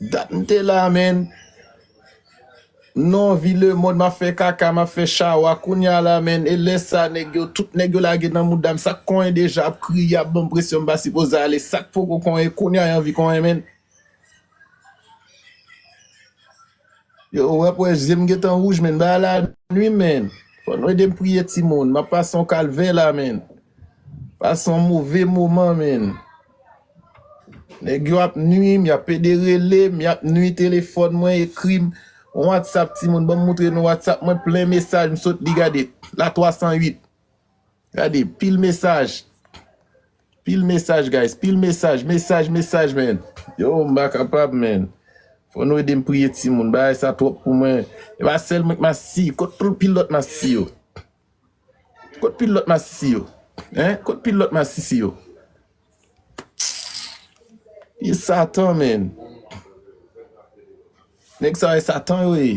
Dat m te la menn. Non vi lemond map fè kaka map fè chawa kounya la menn e lè sa nèg yo tout nèg yo lage nan moudam sak konyen deja ap kriye ap banm presyon m pa sipoze ale sak poko konyen kounya y anvi konyen menn. Yo ou ap wè jem gentan rouj menn bagay la nwi menn fò nou edem priye timoun map pase yon kalvè la menn pase yon move moman menn nèg yo ap nwim yap pede relem yap nwi telefòn mwen ekrim yon whatsapp timoun banm moutre nou whatsapp mwen plen mesaj msot li gade la 308 Gade pil mesaj Pil mesaj guys Pil mesaj Mesaj mesaj man Yow m pa kapab man Fò nou ede m priye timoun Bagay sa twòp pou mwen E pa sèl mwen k masisi Kot tout pil lòt masisi yo Kot pil lòt masisi yo Hein Kot pil lòt masisi yo Pil e satan man Nèg sa yo e satan yo ye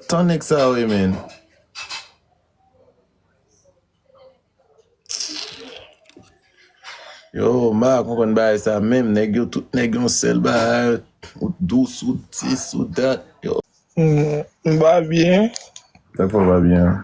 Tan nèg sa yo ye menn. Yo m pa konprann bagay sa menm nèg yo tout nèg yon sèl bagay ou t dous ou t sis ou t dat yo. M pa byen. Sa k fè w pa byen an?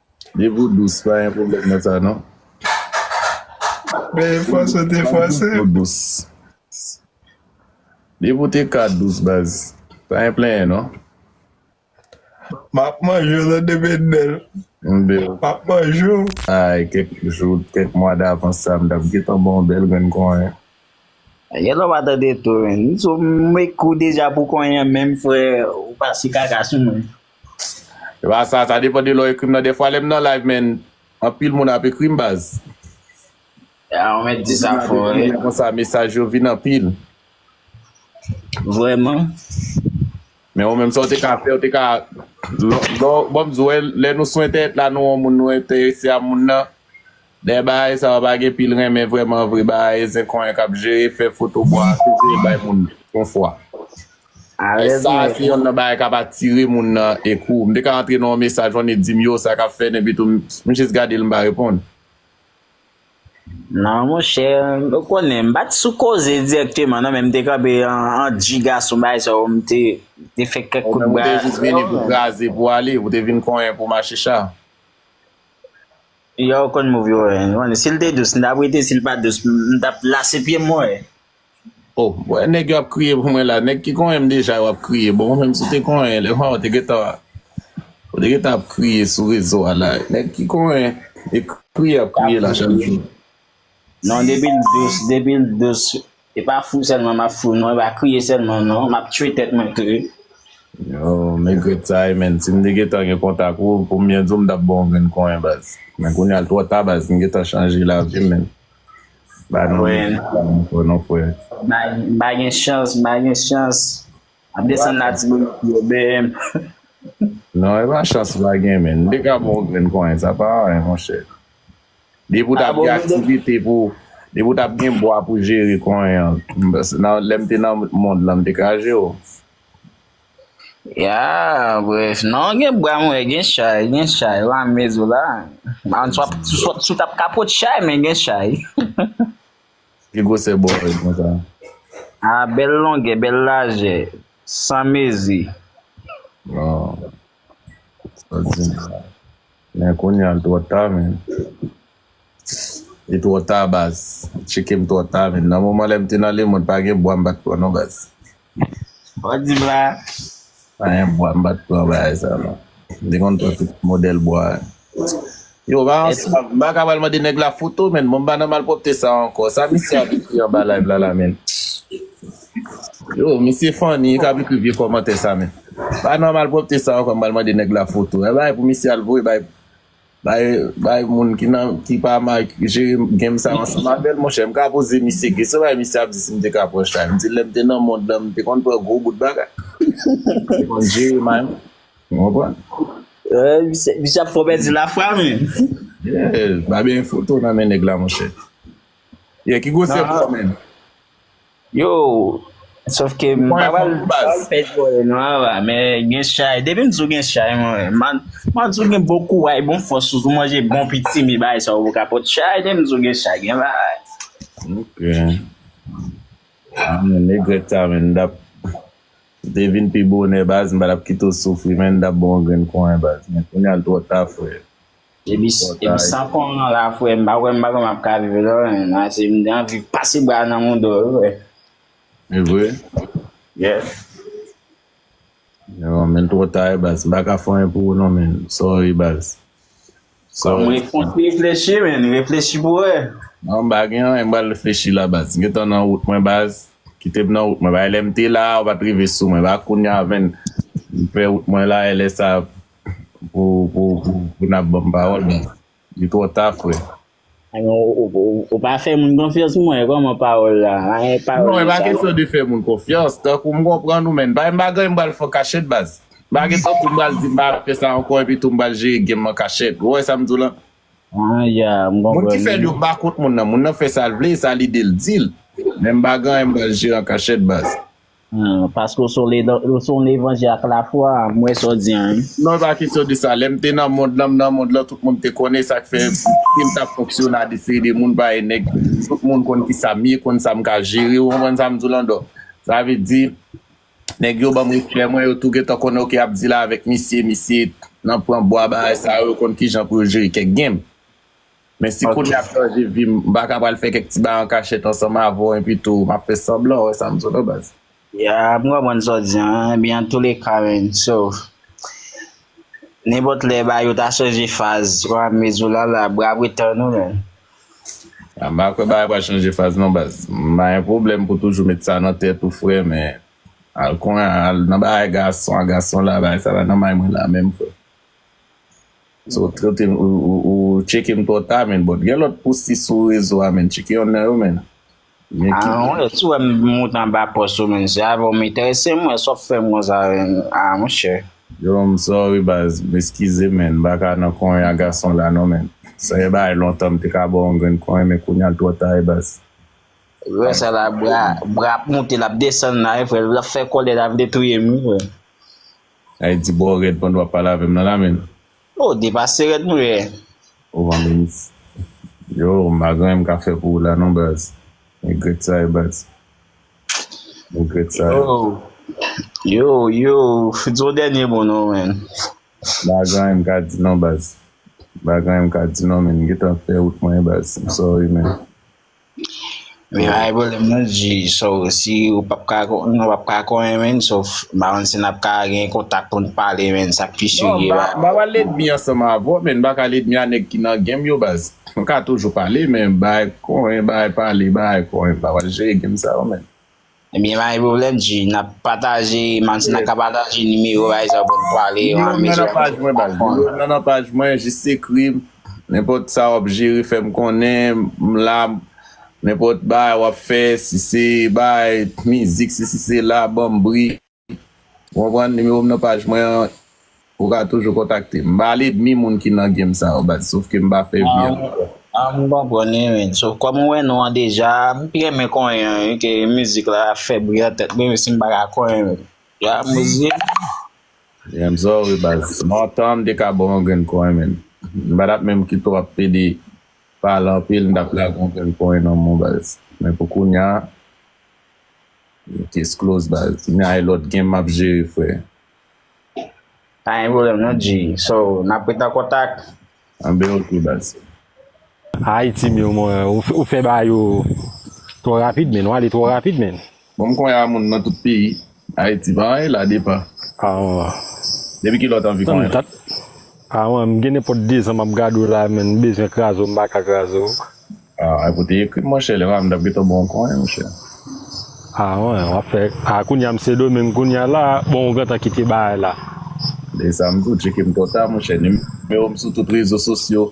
Depi ou dous pa gen pwoblèm nan sa non. Bèl fòs ou te fòse. Depi ou te ka dous baz pa gen plenyen non. Map manje w de Bendel. Map manje w. Ay kèk jou kèk mwa davans sa m tap gentan ba w yon bèl grenn konyen. Gen lè w pa tande tou. M sou m ekou deja pou konyen menm frè ou pase kaka sou mwen. Epa sa, sa depan de lè w ekri m nan dèfwa lè m nan live men anpil moun ap ekri m baz. Ah ou mèt di sa fò wi. Lè konsa mesaj yo vin anpil. Vrèman. Men ou menm sa ou te ka fè ou te ka lè bon m di w lè nou sou entènèt la nou wè yon moun nou enterese a moun nan Dèyè bagay sa yo pa gen pil renmen vrèman vre bagay e zen konyen kap jere fè foto bwa a toujou e bay moun bon fwa. Bagay sa a se yonn nan bagay kap atire moun nan e kou. M te ka antre nan yon mesaj on e di m yo sa kap fè n epi tou m jis gade l m pa reponn. Non monchè ou konnen m pat sou koze dirèkteman non men m te kanpe an dji gason bagay sa yo m te fè kèk kout bra. Ou menm ou te jis vini pou kraze pou ale ou te vin konyen pou machicha. Yow konn move yo wè nou anne sil te dous m tap rete sil pat dous m tap lase pyem mwen wè. Oh m wè nèg yo ap kriye pou mwen la nèg ki konnen m deja yo ap kriye bon menm si w te konnen lè mwen wè w te gentan ou te gentan ap kriye sou rezo a la nèg ki konnen e kriye yap kriye la chak jou. Non depi l dous depi l dous e pa fou sèlman m ap fou non e pa kriye sèlman non m ap tchwe tèt mwen kkte. Yow m egrèt sa e menn si m te gentan gen kontak ou pou m byen di w m t ap ba w yon grenn konyen baz men kounya l twò ta baz m gentan chanje lavi m menn ba nou yon grenn konyen ankò non frè. M pa gen chans m pa gen chans m ap desann latibonit yo bee m. Non e pa chans m pa gen menn m te ka ba w yon grenn konyen sa pa anyen monchè. Depi w t ap gen aktivite pou, depi w t ap gen bwa pou jere konyen an, nan lè m te nan mond lan m te kraze w. Ya, bref, nan gen bwa mwen gen chay, gen chay la mezou la. An swa sou t ap kapot chay men gen chay. Ki gwosè bwa w ye konsa? A bèl longè, bèl lajè, san mezi. Waw, sa di m sa. Men kounya l twò ta men. Li twò ta baz. Li tcheke m twò ta men. Nan moman lè m te nan lemond pa gen bwa m pa t pran non baz. Sa w di m la? Pa gen bwa m pa t pran bagay sa yo non. M te konn pran tout modèl bwa. Yo pa yon sa. M pa ka pral mande nèg la foto men. Bon m pa nan malpwòpte sa ankò. Sa misye ap ekri anba live la la menm? Yo, misye funny, li ka ap ekri vye kòmantè sa men. Pa nan malpwòpte sa ankò m pral mande nèg la foto. Yon bagay pou misye al voye bay bay bay moun ki nan ki pa ma jere game sa ansanm avè l monchè. M ka poze misye kesyon, se yon bagay misye ap di si m te ka pran chay. M di l lè m te nan mond lan m te konn pran gwo bout bagay. M te konn jere may mwen. Ou konprann? Eh, misye, misye ap fè w pèdi lafwa menm. Yeah, m pa benyen foto nan men nèg la monchè. Yeah, ki gwosè Non, pou w menm? Yo, sof ke m pa pral pèdi zòrèy nou ava, men gen chay, depi m di w gen chay mwen, m an di w gen bon kouray, bon fòs sou w, si w manje bon pitimi bagay sa yo ka pot chay, depi m di w gen chay gen bagay. Ok. Mwen menm egret sa men m tap si te vin pi bonè baz m pa tap kite w soufri men m tap ba w yon grenn kouray baz men kounya l twò ta frè. Epi san kòm nan la frè m pa kwè m pa kwè m ap ka viv lò menm ase m gen anvi pase bra nan mou do wi frè. E vre? Yes. Yo men twò ta e baz m pa ka fè anyen pou ou non men sorry baz. Kòm repons reflechi men reflechi pou wè. Non m pa gen anyen m pral reflechi la baz m gentan nan wout mwen baz kite m nan wout mwen bay lè m te la ou pat rive sou mwen ba kounya avèn m fè wout mwen la e lè sa Pou pou pou nap banm pawòl men li twò ta frè. Ebyen ou pa fè moun konfyans mwen kòman pawòl la eeh pawòl yo sa. Non e pa kesyon de fè moun konfyans tankou m konprann ou men n pa yon bagay m pral fè w kachèt baz. Pa gen tankou m pral di m pa fè sa ankò epi tou m pral jere game an kachèt ou wè sa m di w la. Ah ya m konprann. Moun ki fè l yo pa kont moun nan moun nan fè sa l vle e sa lide l di l men m pa gen anyen m pral jere an kachèt baz. Paske w se yon levanjè ak lafwa, m wè sa w di an wi. Non e pa kesyon de sa, lèm te nan mond lan m nan mond lan tout moun te konnen sak fè sim tap fonksyone a de seri de moun parèy nèg tout moun konn kisam ye konn sam ka jere ou konprann sam diw lan dò sa vle di nèg yo banm respè mwen yo tou gentan konnen ok yap di la avèk misye misye nan pran bwa bagay sa yo yo konn kijan pou yo jere kèk game. Men si kounye a m chanje vi m, m pa ka pral fè kèk ti bagay an kachèt ansanm avè w enpi tou m ap fè sanblan wè sa m sot anba sa. Yeah, m konprann sa w di an. Ebyen antoulèka man, so nenpòt lè bagay yo ta chanje faz ouramezou w la la, bra pretan ou man. M pa kwè bagay pral chanje faz non baz. M pa gen pwoblèm pou toujou met sa nan tèt ou frè men al konnen al nan bagay gason a gason la bagay sa pa nan may mwen la menm frè. Ou trete m ou tcheke m twò ta menn bòt gen lòt poustis sou rezo a menn tcheke yonn nan yo menn. Anmweyy si w wè m moute anba pòs ou menn se avè w m enterese m wè sa w fè m konsa ah monchè. Yo m sorry baz m eskize menn m paka nan konyen a gason la non menn sa se bagay lontan m te ka ba w yon grenn konyen men kounya l twò ta e baz. Wè sa la bra ap moute lap desann la wi frè lap fè kòlè la vle touye m wi frè. Ay di boo red pandan wap pale avem nan la menn. Oh depase red nou ye. Oh man Minis yo m pa gen anyen m ka fè pou ou la non baz regret sa ye baz regret sa ye. Yo yo di yon dènye mo non menn. M pa gen anyen m ka di non baz m pa gen anyen m ka di non menn m gentan fè wout mwen baz m sorry menn. Wi pa gen pwoblèm non Dji, so si ou pap ka nou pap ka konyen menn so m pa konn si nap ka gen kontak pou n pale menn sa pi si ki ba. M ap al edmi ansanm avè w menn m pa ka al edmi a nèg ki nan genm yo baz. Nou ka toujou pale men bay konyen bay pale bay konyen m pa pral jere genm sa yo menn. Ebyen pa gen pwoblèm di nap pataje Martina ka pataje nimewo bay sa pou nou pale yo an mesye dam yo pa konn. Nimewo m nan nan paj mwen jis ekrim nenpòt sa wap jere fèm konnen m la nenpòt bagay wap fè si se bagay mizik si se la banm bri. Ou konprann, nimewo m nan paj mwen an, ou ka toujou kontakte m. M pa ledmi moun ki nan game sa yo baz, sof ke m pa fè vye ankò. A m konprann wi men, sof kòm m wè non an deja, m pi renmen konyen an wi ke mizik la ap fè bri nan tèt mwen menmsi m pa ka konyen menm. Ya Mozye. Renmn sa w wi baz. Nan tan an m te ka ba w yon grenn konyen men, m pa t ap menm kite w ap pede pale anpil m t ap lage yon grenn konyen nan men w baz. Men pou kounya. Case close baz. Mwen al lòt game map jere frè. Pa gen pwoblèm non G. So nap ret an kontak. Anben ok baz. Ayy team yo mwen ou fè ba yo twò rapid menn ou ale twò rapid menn. Bon m konya moun nan tout peyi Haiti pa anyen la depa. Ah man. Depi kilè w t anvi konnen la? Ah man m gen nenpòt 2 zan map gade w la menn m bezwen kraze w m paka kraze w. Ah epou te ekrim monchè lè pa m tap gentan baw kò wi monchè. Ah wen wap fè ah kounya m sendomeng kounya la bon ou gentan kite bagay la. E sa m di w tcheke m twò ta monchè nimewo m sou tout rezo sosyo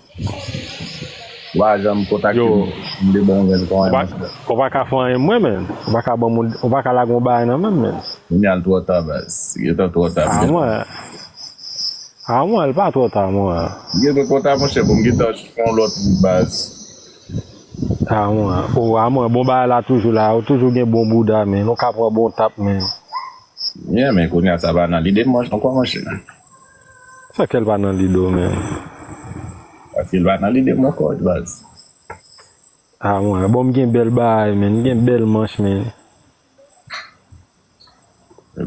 ou pa janm kontakte m m te baw yon grenn kò wi monchè. Ou pa ka fè anyen mwen menn ou pa ka banm ou pa ka lagem yon bagay nan menm menn. Kounya l twò ta baz. Li gentan twò ta. Ah wen. Ah mwen l pa tro ta mwen. M gentan kontan monchè bon m gentan fè yon lòt wout baz. Ah mwen oh ah mwen bon bagay la toujou la ou toujou gen bon bouda menn ou ka pran bon tap menn. Yeah men kounya sa pa nan lide m ankò monchè. Sa k fè l pa nan lide w menn. Paske l pa nan lide m ankò baz. Ah mwen bon m gen bèl bagay menn m gen bèl manch menn.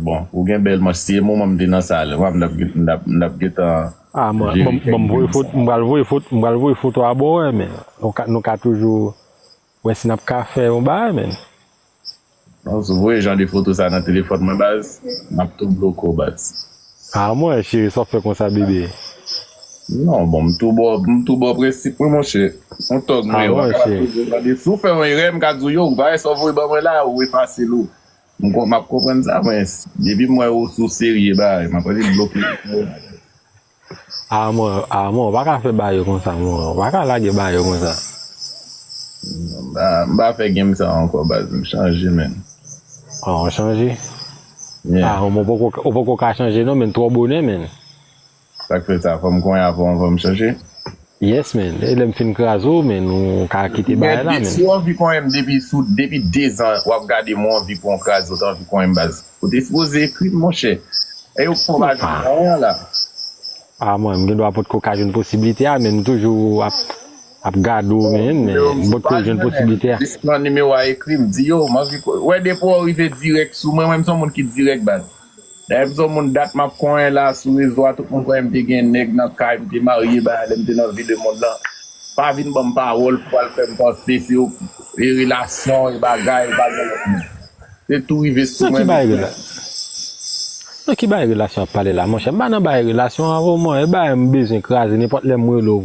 Bon ou gen bèl manch si e moman m te nan sal m wap m tap gentan jere kèk grenn sa. M pral voye foto m pral voye foto a ba w wè men nou ka toujou wè si nap ka fè yon bagay men. Non si w voye jan de foto sa nan telefòn mwen baz map tou bloke w baz. Ah mwen cheri sa wap fè konsa bebe. Non bon m tou bo m tou bo prensip mwen monche Ou tog mwen wap ka toujou mande si w fè yon erè m ka di w yo ou pa wè sa w voye ban mwen la ou efase l ou m kon map konprann sa men depi m wè ou sou serye bae map annik bloke ou pou yon bagay. Ah mwen ah mwen ou pa ka fè bae konsa mwen ou pa ka lage bae konsa. M pa m pa fè game sa ankò baz m chanje menn. Ah ou chanje. Ah ou poko ou poko ka chanje non menn twò bonè menn. Sak fè sa fòm konyen avan ou fèm chanje? Yes menn e lèm fin kraze w menn ou ka kite bagay la menn. Si ou anvi konyenm depi sou depi 2 zan wap gadem ou anvi pou yon kraze ou ta anvi konyenm baz ou te sipoze ekrim monchè e ou poko ka jwenn konyen an la. Ah mwen m gendwa potko ka jwenn posibilite a menn m toujou ap. Ap gade w Bon men nimewo m se bòt pa kow jwenn jwenn l posiblite a. jis pran nimewo a ekri l di yo m anvi konnen wè depi w rive dirèk sou mwen mwen m son moun ki dirèk baz dayè m son moun dat map konnen la sou rezo a tout moun konnen m te gen nèg nan kay m te marye bagay lè m te nan vi le mond lan pa vin banm pawòl pou al fèm panse se ok e relasyon e bagay ou pa gen lòt moun se tou rive sou Nan ki mwen bagay mesye. rela Nan ki bagay relasyon ap pale la monchè m pa nan bagay relasyon avw mwen e bagay m bezwen kraze nenpòt lè m rele w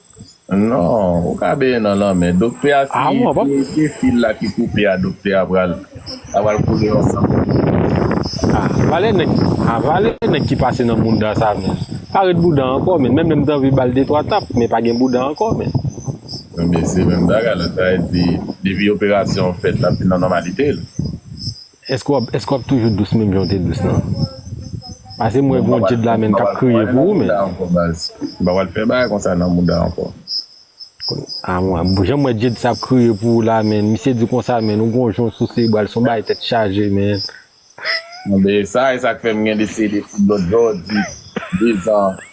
Non, ou ka benyen nan lanmè. Doktè a si se fil la ki koupe a doktè a pral la pral koule yon san pou li. A valè nèg a valè nèg ki pase nan bounda sa menn. Pa ret bouda ankò menn menm lè m t anvi bal de twa tap men pa gen bouda ankò menn. Ebyen se menm bagay la sa vle di depi operasyon an fèt lap vin nan nòmalite l. Eske wap eske wap toujou dous menm janw te dous nan pase mwen gon je dlamen kap kriye pou ou men. M pa pral fè bagay konsa nan mouda ankò. A mwen janm wè Jade sa ap kriye pou ou la menn misye di konsa menn ou gon jon sou sebral son bagay tèt chaje menn. Anbeyy sa esak fèm gen deside fout lòt jodi 2 ans.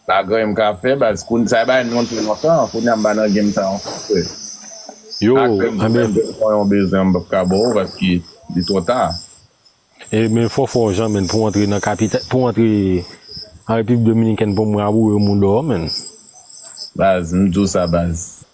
Sa Graham ka fè baz koun sa bay non te lontan kounya m pa nan game sa ankò frè Yo ak Graham si anbyen menm jan fò yon bezwen m pap ka baw paske li twò ta. E men fò fò jan menn pou antre nan kapita pou antre an repiblik dominikèn pou m raboure w mou dò menn. Baz m diw sa baz.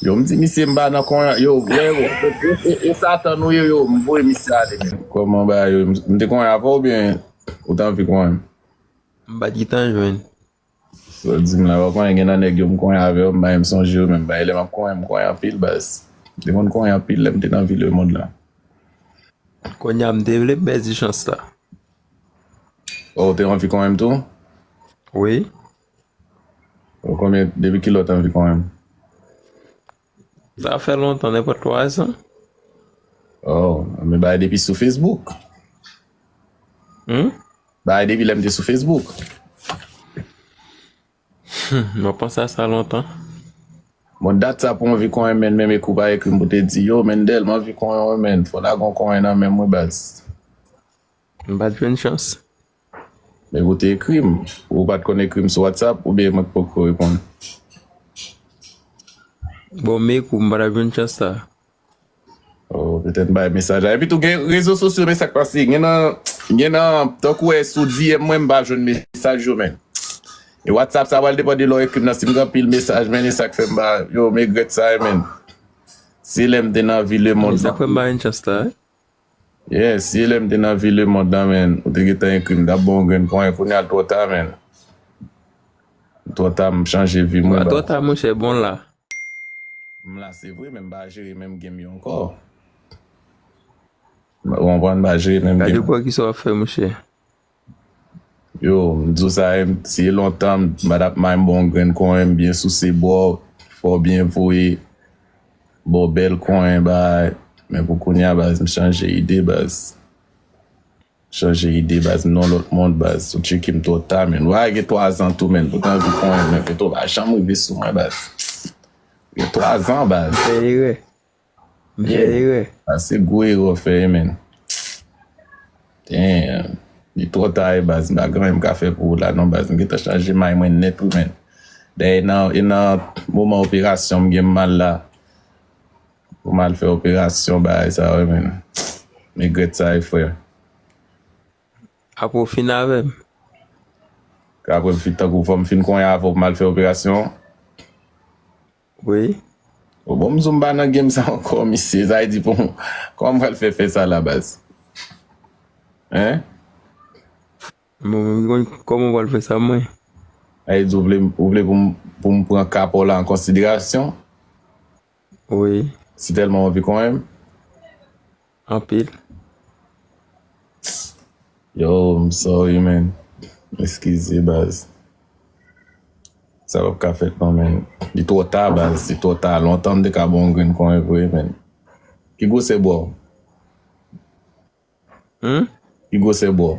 Yo m di misye m pa nan kon yo vre e satan nou ye yo m voye misye ale menm. Koman bagay yo ye m te konyen avèw oubyen ou t anvi konyen m? M pat gitan jwenn. Sa w di m la pa konyen gen nan nèg yo m konyen avè yo m pa menm sonje yo menm bagay lè map konyen m konyen anpil baz m te konn konyen anpil lèm te nan vil le mond lan. Konnya m te vle m pèdi chans la. Oh ou te anvi konyen m tou? Wi. Ou konbyen, depi ki lè ou te anvi konnen m? Sa fè lontan, nenpòt 3 zan. Oh, men bagay depi sou Facebook. Hmm? Bagay depi lè m te sou Facebook. Mwen panse a sa lontan. Bon, dat sa pou anvi konnen men, men ekou pa ekri m pou te di, yo Mendel, m anvi konnen w men, fò lagon konnen nan men mwen baz. M pa t jwenn chans. Men ou te ekri m. Ou pat konn ekri m sou WhatsApp oubyen mwen k poko reponn? Bon m ekri w m pa tap jwenn chans sa. Oh petèt m bay mesaj la. Epitou gen rezo sosyo men sak pase gen nan gen nan tankou e sou DM mwen m pa jwenn mesaj yo men e WhatsApp sa pral depan de lè w ekri m nan si m gen anpil mesaj men e sak fè m pa yo m egrèt sa e menn se lè m te nan vi lemond. Esak fè m pa jwenn chans la. Yes ye lèm te nan vi le mond nan menn ou te gentan ekrim tap bon yon grenn ponyen kounya l twò ta menn l twò ta m chanje vim wi baz. Pa twò ta monchè bon la. M la se vre men m pa jere menm game yo ankò ou konprann m pa jere menm game. Gade bò kisa wap fè monchè. Yo, m di w sa se lontan m ba t ap may m ba w yon grenn konyen m byen souse ba w fè w byen voye ba w bèl konyen bagay men pou kounye a baz m chanje ide baz m chanje ide baz m nan yon lòt mond baz ou tcheke m twò ta menn bagay gen twazan tou menn m pote anvi konyen men fè to pa janm rive sou mwen baz gen twazan baz. M fè erè. Sa se gwo erè w fè menn. Damn. Li twò ta e baz. M pa gen anyen m ka fè pou ou la non baz. M gen tan chanje may mwen nèt wi menn. Dayè e nan moman operasyon m gen m mal la. Pou m al fè operasyon bagay sa wi menn. M regrèt sa wi frè. Apre w fin avè m? Apre m fin tankou w fò m fin konyen avè w pou m al fè operasyon an? wi. Ou bon mzou mpa nan game sa ankò mesye sa vle di pou kòman mpral fè fè sa la baz hein. Mwen menm ki konn kòman mpral fè sa mwen. Sa vle di ou vle ou vle poum pran ka paw la an konsiderasyon. Wi. Si tèlman ou anvi konyenm. anpil. Yo m sorry man eskize baz sa pap ka fèt non man li twò ta baz li twò ta lontan m te ka baw yon grenn kòlè pou li man ki gwosè bwa w ki gwosè bwa w.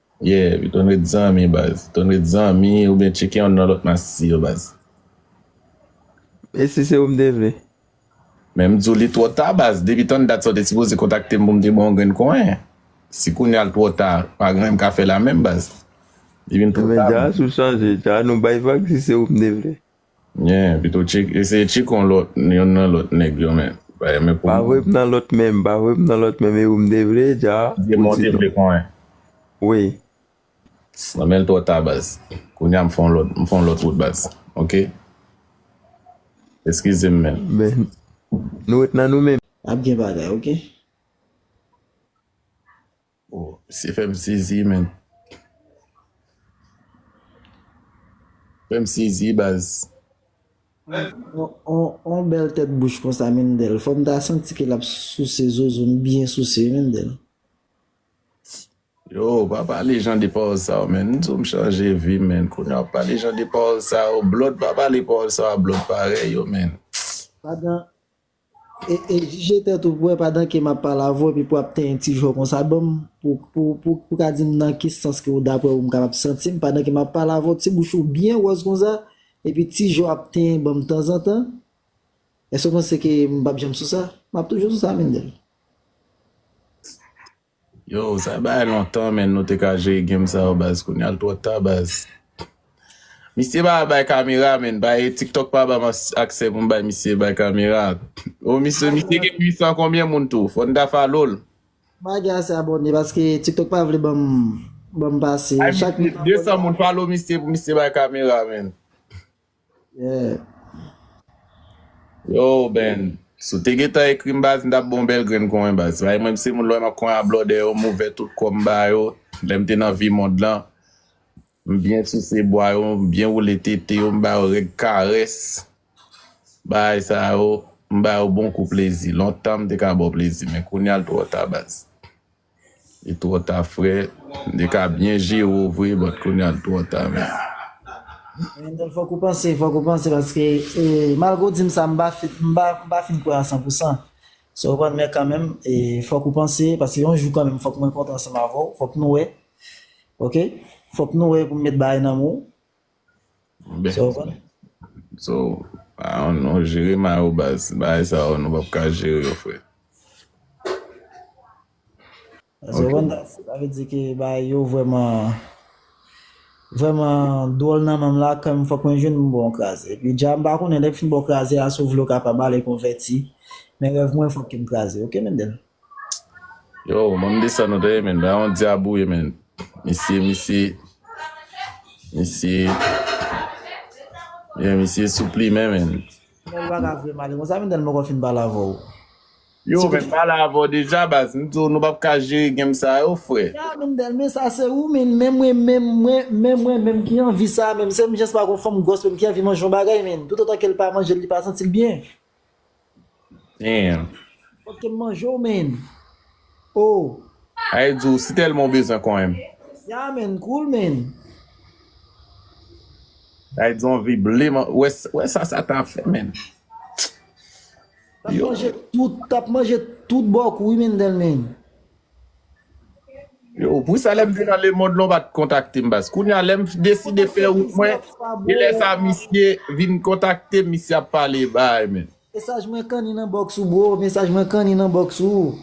Yeah wi ton ret zanmi baz. Ton ret zanmi ou byen tcheke yon nan lot masisi yo baz. Mesi se ou m te vle. Men m di w li twò ta baz depi tann dat sa w te sipoze kontakte m pou m te ba w yon grenn konyen. Si kounya l twò ta pa gen anyen m ka fè la menm baz. Li vin twò ta. Ebyen dja sou chanje dja nou bay vag si se ou m te vle. Nyen pito tchik eseye tchikon lòt yonn nan lòt nèg yo men bay men pou Bavre p nan lòt menm bavre p nan lòt menm e ou m te vle dja Dye mwen ou di te vle non konyen wi. Nan menl twò ta baz kounya m fon lòt m fon lòt wout baz ok eskizem men. Men nou ret nan nou menm. Ap gen bagay ok. Oh misye fèm sezi menn. Fèm sezi baz. On bèl tèt bouch konsa Mendel fòm ta santi ke lap souse zozo m byen souse wi Mendel. Yo pa pale jan de pawòl sa yo menn m di w m chanje vi m menn kounye a w pale jan de pawòl sa yo blòd pa pale pawòl sa yo a blòd parèy yo menn. E jije tèt ou pou wè padan ke map pale avè w epi pou ap tenyen ti jwè w konsa banm pou ka dim nan ki sans ke ou daprè ou m kapab santim padan ke map pale avè w ti bouch ou byen wòz konsa epi ti jwè w ap tenyen banm tanzantan Èske w panse ke m pap janm sou sa? Map toujou sou sa Mendel. Yo sa bay lontan menn nou te ka jere game sa yo baz kounyal twò ta baz misye pa bay kamera menn bay tiktok pa banm aksè poum bay misye bay kamera oh misye misye gen 800 konbyen moun tou fòn ta falol. Mpa gen ase abòne paske tiktok pa vle banm banm pase bay chak misye moun 200 moun falo misye pou misye bay kamera menn. Yo Ben, si w te gentan ekri m baz m tap ba w bèl grenn kwen baz. Paske mwen m se moun lè map kwen a blòdè yo m ouvè tout kò m ba yo, lè m te nan vi mond lan m byen souse bwa yo, m byen woule tete yo, m ba yo règ karès bagay sa yo m ba yo bon kou plezi. Lontan m te ka ba w plezi men kounya l twò ta baz. Li twò ta frè, li ka byen jere w vre but kounya li twò ta menn. Wendel fok ou panse fok ou panse paske malgre ou dim sa m pa fin kwè a san pou san sa ou konn men kanmenm fok ou panse paske yon jou kanmenm fok mwen kontan ansanm avèw fok nou wè ok fok nou wè pou m met bagay nan men w. Mbe. Sa w konn? So, a yon non jere ma yo baz. Ba e sa yo nou pap ka jere yo fre. Sa w konn? Sa ve di ke ba e yo vreman, vreman dwol nan menm la kan m fok mwen jwenn m bon kraze. E pi dja m pa konnen lè m fin bon kraze a si w vle w ka pa m ale konveti. Men rev mwen fok ke m kraze. Ok Mendel? Yo mwen mdesann nou tande men nan yon dyab ou ye men misye misye misye men misye sou plimen men Nèl pa ka vle male konsa men Nèl mwen poko fin pale avè w Yo men pale avè w deja baz m di w nou pap ka jere game sa yo frè. Ya men Nèl men sa se ou men men mwen men mwen men mwen menm ki anvi sa menm se m jès pa gon fanm gwòs menm ki anvi manje yon bagay men toutotan ke l pa manje l li pa santi l byen. Damn. Fok kem manje w menn oh. Ayy di w si telman w bezwen konyenm. Yeah menn cool menn. Ayy di w anvi ble m an wè sa sa ta fè menn. Tap manje tout tap manje tout bòk ou wi Mendel menn. Yo pou sa lèm te nan lemond lan ou pat kontaktem baz kounya lèm deside fè wout mwen e lè sa misye vin kontaktem misye ap pale baay men. Mesaj mwen kanni nan box ou bro mesaj mwen kanni nan box ou.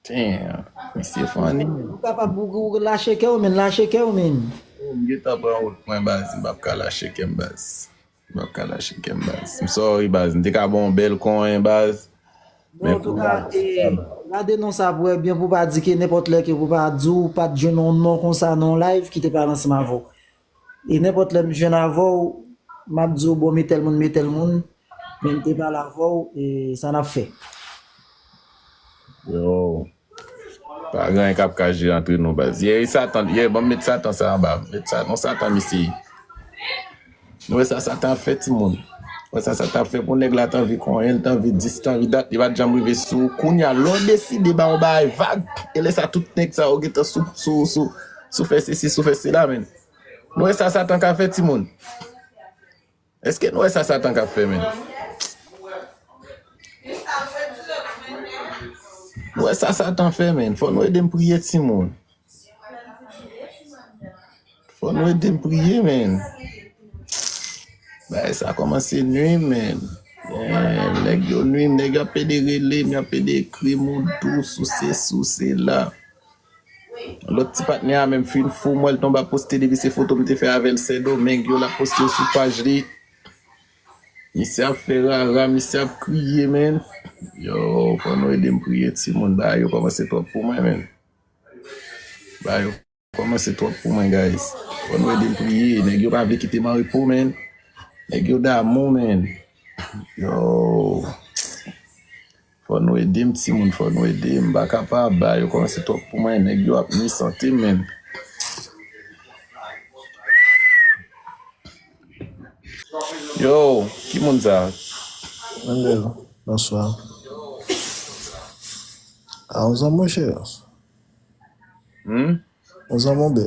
Damn misye funny man. Ou kapab ou lache kèw menn lache kèw menn. Ou m gentan pran wout mwen baz m pap ka lache kèm baz. Map ka lache kèm baz. M sorry baz m te ka baw yon bèl konyen baz. Bon an touka ee gade non sa pou wè byen pou pa di ke nenpòt lè ke pou pa di w pat jwenn yon non konsa nan yon live ki te pale ansanm avè w. E nenpòt lè m jwenn avè w map di w bon me tèl moun me tèl moun men m te pale avè w e sa nap fè. Yo Pa gen anyen kap ka jere antre nou baz. Yeah satan yeah banm met satan sa anba met sa non satan misye ye Nou wè sa satan ap fè timoun Nou wè sa satan ap fè pou nèg la t anvi konyen l t anvi di si t anvi dat li pat janm rive sou ou kounya lè w deside ba yon bagay vag e lè sa tout nèg sa yo gentan sou sou sou sou fè sesi sou fè sela menn Nou wè sa satan ka fè timoun. Eske nou wè sa satan kap fè menm. Nou wè sa satan fè menm. Fò nou edem priye ti moun. Fò nou edem priye menm. Bagay sa komanse nwim menm. Nèg yo nwim nèg yo ap pede relem yo ap pede ekrim ou dous ou sesi ou sela. Lòt ti patnè a menm fin fou m wè l tonbe ap poste depi se foto m te fè avè l sendomeng yo l ap poste yo sou paj li misye ap fè rara misye ap kriye menn yow fò nou ede m priye timoun bagay yo kòmanse twòp pou mwen menn bagay yo kòmanse twòp pou mwen guys fò nou ede m priye nèg yo pa vle kite m anrepo menn nèg yo damou menn yow Fò nou edem timoun fò nou ede m paka pa aba yo kòmanse twòp pou mwen nèg yo ap nwi sante menm. Yow ki moun sa. Angel bonswa a ou zanmi chè Humm. ou zanmi ou bè.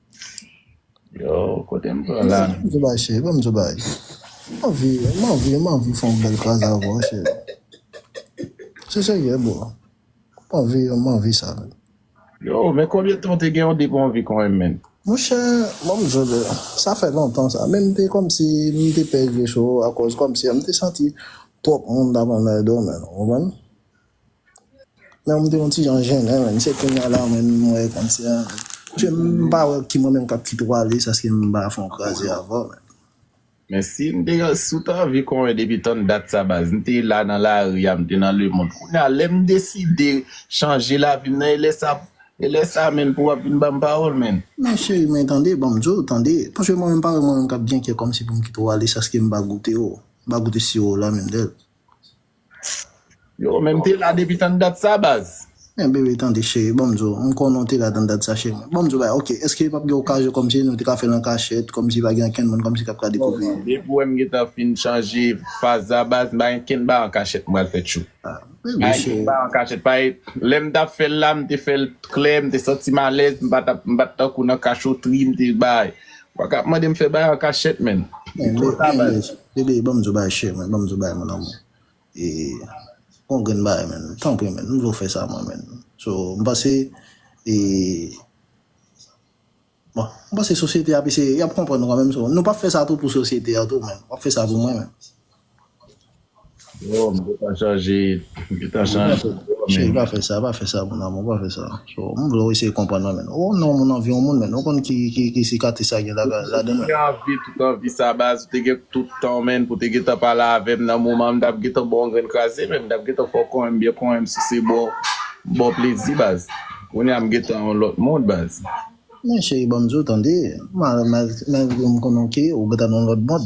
Yo, kote m pran la? Bon m bay cheri, bon m bay. M anvi, m anvi, m anvi fè yon bèl kras avè w cheri. Se serye bro. M anvi, m anvi sa. Yo, men konbyen tan w te gen yon depi w anvi konn men? Monchè, bon m di w bro, sa fè lontan sa. Men m te kòmsi m te pè jwe sou ou akòz kòmsi m te santi twòp moun t ap anmède w menn, ou konprann? Lè m te yon ti jan jennen menm, se kounya la menm m wè konsè an menm. Paske m pa wè ki mwen menm k ap kite w ale sa si m pa fè yon kraze avè w menm. Men si m te si w te anvi konnen depi tann dat sa baz, m te la nan lari a, m te nan lemonn. Kounya lè m deside chanje lavi m nan e lè sa e lè sa menn pou w ap vin ban m pawòl menn. Men cheri men tande ban m di w tande. Paske mwen menm m pa wè mwen menm k ap gen kè kòmsi pou m kite w ale sa si m pa goute w, m pa goute siwo w la menm nèt. Yo men m te la depi tann dat sa baz. Men bebe tande cheri banm di w m konnen w te la tann dat sa cheri mwen banm di w bagay ok eske pap gen okazyon kòmsi nou te ka fèl an kachèt kòmsi pa gen ankenn moun kòmsi kap ka Non dekouvri non depi wè m gentan fin chanje faz la baz m pa gen kenn bagay an kachèt m pral fè tjou ah bebe pa gen kenn cheri bagay an kachèt pa gen lè m tap fèl la m te fèl t klè m te santi m alèz m pa tap m pat tankou nan kachotri m te bagay ou pa ka ap mande m fè bagay an kachèt menn li men twò ta men baz bebe Bébé banm di w bagay cheri mwen, banm di w bagay mon amour e gon grenn bagay menn tanpri menn m vle w fè sa mwen menn so m panse e bon m panse sosyete a ap eseye yap konprann ou kan menm so nou pap fè sa tou pou sosyete a tou men wap fè sa pou mwen menm. Jewòm ou pa chanje ou ta Non pa chanje fè sa vwa men. Cheri pa fè sa pa fè sa mon amour pa fè sa Jewòm m vle w eseye konprann mwen men Ou non moun anvi yon moun men Ou konn ki ki ki sikatris sa gen la Depi ou ladan l men. vini anvi tout anvi sa baz ou te gen tout tan menn pou te gentan pale avèm nan moman m tap gentan baw yon grenn kraze menn m tap gentan fè w konyenm byen konyenm souse baw baw plezi baz kounye a m gentan yon lòt moun baz. Men cheri banm diw tande ma ma men m konnen w ke ou gentan nan yon lòt mond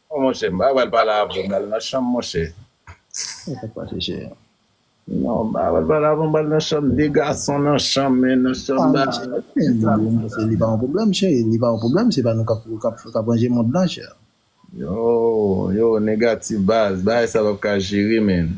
Oh monchè mpa pral pale avèw mnal nan chanm monchè. Sak pase chè a. Non mpa pral pale avèw mbal nan chanm 2 gason nan chanm men nan chanm Ah mpa chè pral men kisa mwen mpanse li pa yon pwoblèm chè li pa yon pwoblèm se pa nou kap kap ranje mond la chè. Yo yo negatif baz bagay sa pap ka jere menn.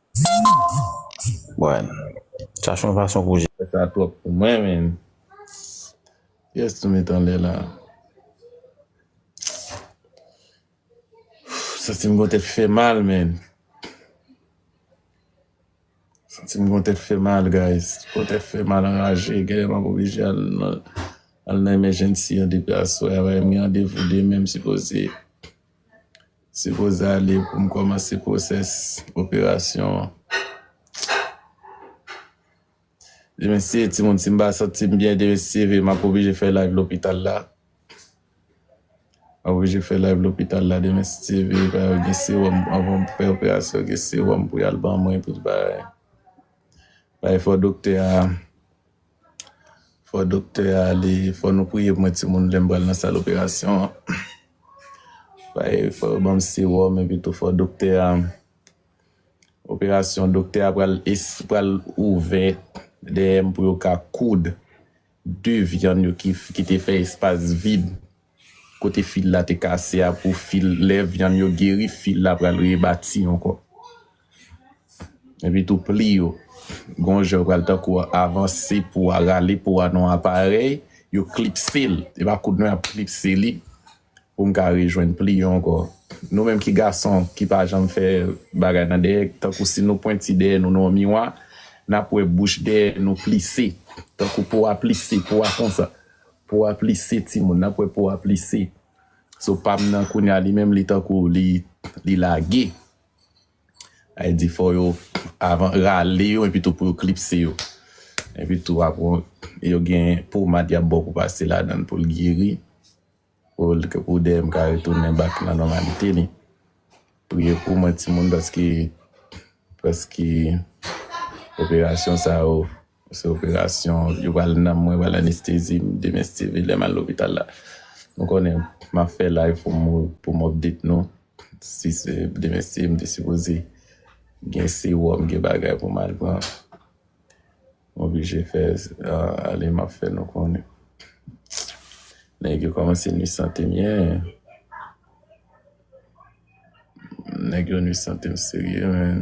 Bon chache yon fason pou jere sa twòp pou mwen menm kiyès nou met anlè la santim gon tèt fèmal menn santim gon tèt fèmal guys gon tèt fèmal anraje genlè map oblije al nan emergency an depi aswè a bayem gen randevou demen msipoze Sipoze ale pou m kòmanse pwosès operasyon an. Mesi timoun si m pa santi m byen demen si m ap oblije fè live lopital la. M ap oblije fè live lopital la demen si Dye vle paske yo gen sewòm anvan m fè operasyon an gen sewòm pou y al ban mwen anpil bagay. Pa efò doktè a. Fò doktè a ale, fò nou priye pou mwen timoun lè m pral nan sal operasyon an. Paske fò yo ban m sewòm epi tou fò doktè a operasyon doktè a pral es pral ouvè dèyè m pou yo ka koud de vyann yo ki te fè espas vid. Kote fil la te kase a pou fil lè vyann yo geri fil la pral rebati ankò epi tou pli yo gon jan yo pral tankou avanse pou a rale pou a nan yon aparèy yo klipse l e pa koud nou ap klipse li pou m ka rejwenn pli yo ankò nou menm ki gason ki pa janm fè bagay nan dèyè tankou si nou pwenti dèyè nou nan yon miwa n ap wè bouch dèyè nou plise tankou pou a plise pou a konsa Po a plise timoun nan kwè po a plise so pam nan kounya li menm li tankou li lage ay di fò yo avan rale yo epitou pou yo klipse yo epitou apre yo gen pomad yap baw pou pase ladann poul geri pou DM ka retounen back nan nòmalite li priye pou mwen timoun paske paske operasyon sa yo. Se operasyon yo pral nan mwen pral anestezi m demen Steeve lèm al lopital la nou konnen map fè live pou m pou m update nou si se demen Steeve m te sipoze gen sewòm gen bagay pou m al pran m oblije fè ale map fè nou konnen nèg yo kòmanse nwi sante m ye nèg yo nwi sante m serye menn.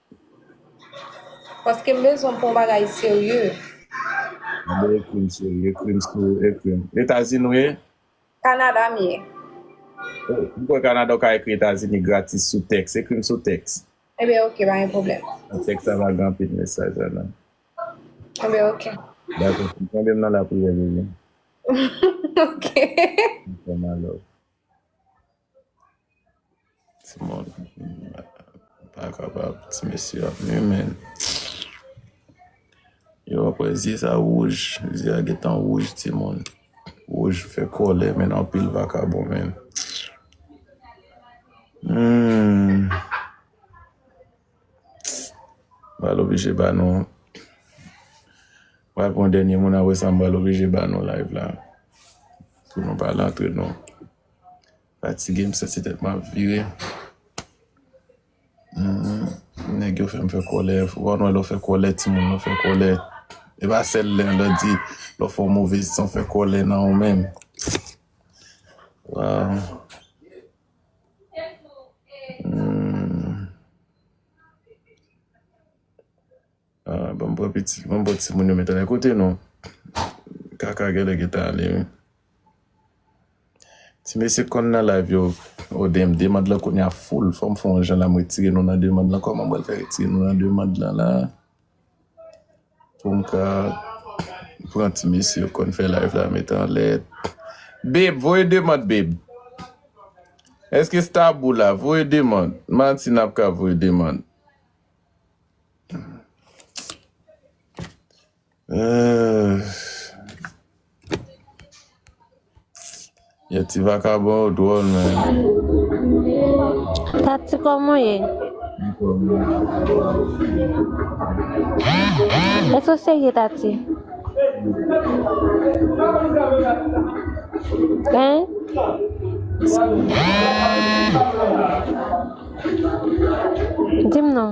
Paske m bezwen pou yon bagay serye. An bon e krim serye, krim serye, e krim. Etazini ou ye? Kanada m ye. O, m kwè Kanada ou ka ekri Etazini gratis sou tèks. E krim sou tèks. Ebyen ok, pa gen pwoblèm. Nan tèks la pa gen anpil mesaj la nan. Ebyen ok. Dakò, kenbe m nan lapriyè Bebe. Ok. M fè malove. Ti moun pa kapab ti mesye ap nwi menn. Yo wè kòlè zye sa wouj, zye a gentan wouj ti moun. Wouj fè kòlè menn anpil vakabon menn. M pral oblije ba nou, m pral pran dènye moun aprè sa m pral oblije ba nou live la pou nou pa lantre nou. Fatige m santi tèt map vire nèg yo fèm fè kòlè wap wè lè ou fè kòlè timoun yo fè kòlè e pa sèl lè lè ou di lè ou fè yon move san ou fè kòlè nan ou menm waw Ahh banm pran pitit banm pran timoun yo mete lè kote nou kaka gèlè gentan ale wi ti mesye konn nan live yo oh damn demand lan kounya full fòm fè yon jan la m retire nou nan demand lan kòman m pral fè retire nou nan demand lan la poum ka pran ti mesye yo konn fè live la mete anlè babe voye demand babe eske stabu la voye demand martine ap ka voye demand. Yon ti vakabon ou dwòl men. Tati kòman ye? Èske ou serye Tati? Hein? Di m non.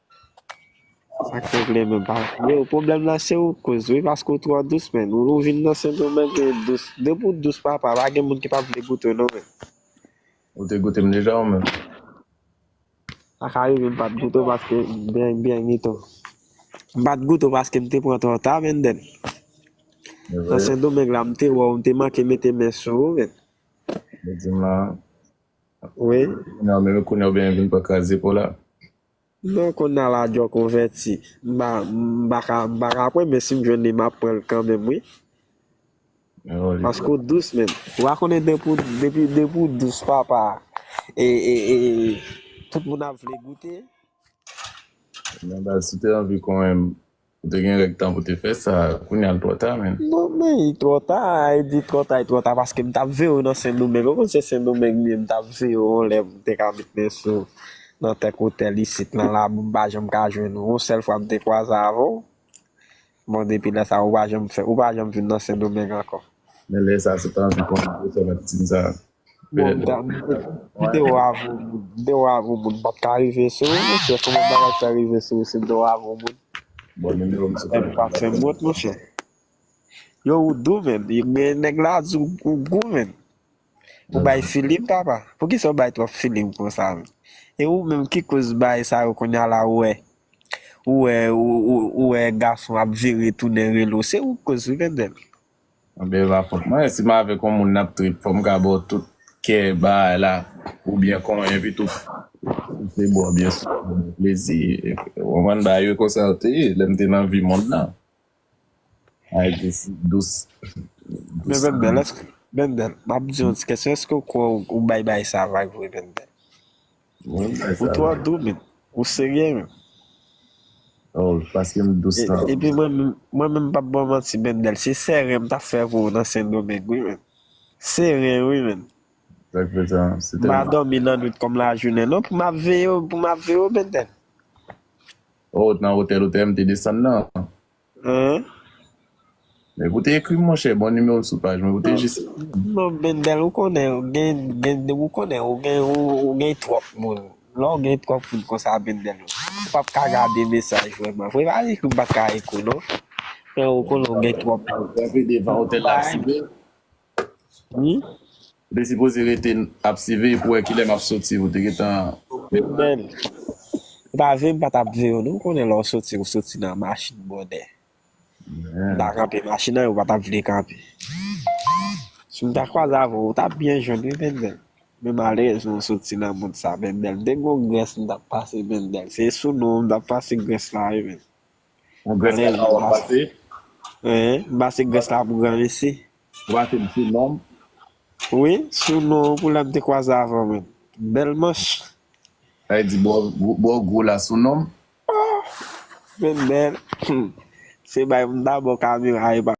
Sak regle menm pa Freo pwoblèm lan se ou koz wi paske ou twò dous menn ou vin nan sendomeng ou dous depi ou dous papa pa gen moun ki pap vle goute w non menn Ou te goute m deja ou menm? Sa ka rive m pat goute w paske beny beny mito M pat goute w paske m te pran twò ta Mendel Nan sendomeng la m te wè w m te manke mete men sou ou menn Ou di m lan an Wi Nan men kounye ou byen vin pran kraze pou w la Non konnala adjo konvèti. M paka m paka pran men sim jwenn li map pranl kanmenm wi paske ou dous menn ou pa konnen depi depi ou dous papa e tout moun ap vle goute. Men baz si te anvi konenm Ou te gen règ tan pou te fè sa, kounya l twò ta menn. Non men li twò ta, e di twò ta li twò ta paske m tap veye w nan sendomeng, ou konn se sendomeng m ye m tap veye w yon lè m te ka met men sou w nan kèk otèl isit nan labou m pa janm ka jwenn ou, yon sèl fwa m te kwaze avè w, bon depi lè sa ou pa janm fè, ou pa janm vin nan sendomeng ankò. Men lè sa se t anvi konn gwo sòvèt Tine sa. Bon m ta mete video a avw moun. Video a avw moun pap ka rive sou ou monchè kòman bagay sa rive sou ou se video a avw moun. Bon numero m se pa. Epi pa fèm wont monchè. Yo ou dou menn men nèg la di ou gou menn. Ou bay filim papa. Poukisa ou bay twòp filim konsa menn. E ou menm ki koz bagay sa yo kounya la ou wè ou wè ou wè gason ap vire tounen rele w se ou koz wi Bendel. Anben epa fòt mwen si m avèk yon moun nap trip fòm ka baw tout kè bagay la ou byen konyen epitou m se bò byen sou bò bò plezi ou konprann bagay yo konsa yo te ye lèm te nan vi mond lan bagay te si dous Men dous Benben èske Benben map diw yon ti kesyon èske ou kwè ou bay bagay sa vag vre Benben? Bon bagay Pou sa twa la. doumit ou serye menm? Oh paske m dous E, lan. epi mwen menm mwen menm m pap ba w manti Bendel se sèren m tap fè pou ou nan sendomeng wi menn seren wi menn Sa k fè sa se m pa tèlman dòmi lannwit kòm lajounen non pou m ap veye w pou m ap veye w Bendel. Oh nan otèl otèl m te desann nan. Hein? Men pou te ekrim monchè bon numéro l sou paj mwen pou te jis ekrim. Non Bendel ou konnen ou gen gen ou konnen ou gen ou gen twòp moun lè w gen twòp moun konsa Bendel ou pap ka gade mesaj vrèman vre pa di ke m pat ka ekri w non men ou konnen ou gen twòp moun. Kanpe devan otèl la sibe. Wi. Ou te sipoze rete ap siveye pou wè kilè map soti ou te gentan met pran. Menm m pa vle m pa tap veyew non ou konnen lè w soti ou soti nan machin bonè m ta kanpe machin nan epi ou pa tap vle kanpe si m ta kwaze avèw ou tap byen jwenn wi Bendel men malerezman ou soti nan moun sa Bendel m te gen yon grès m tap pase Bendel se sou nou m tap pase grès la wi Bendel. An grenn Grès la wap pase. Eeh base grès la pou gran mesi. Ou pase m sou nom. Wi sou non pou lèm te kwaze avan menm. Bèl manch. Sa vle di bò gwo la sou nom. Ohh men bèl humm se bay m da bò kamera epa.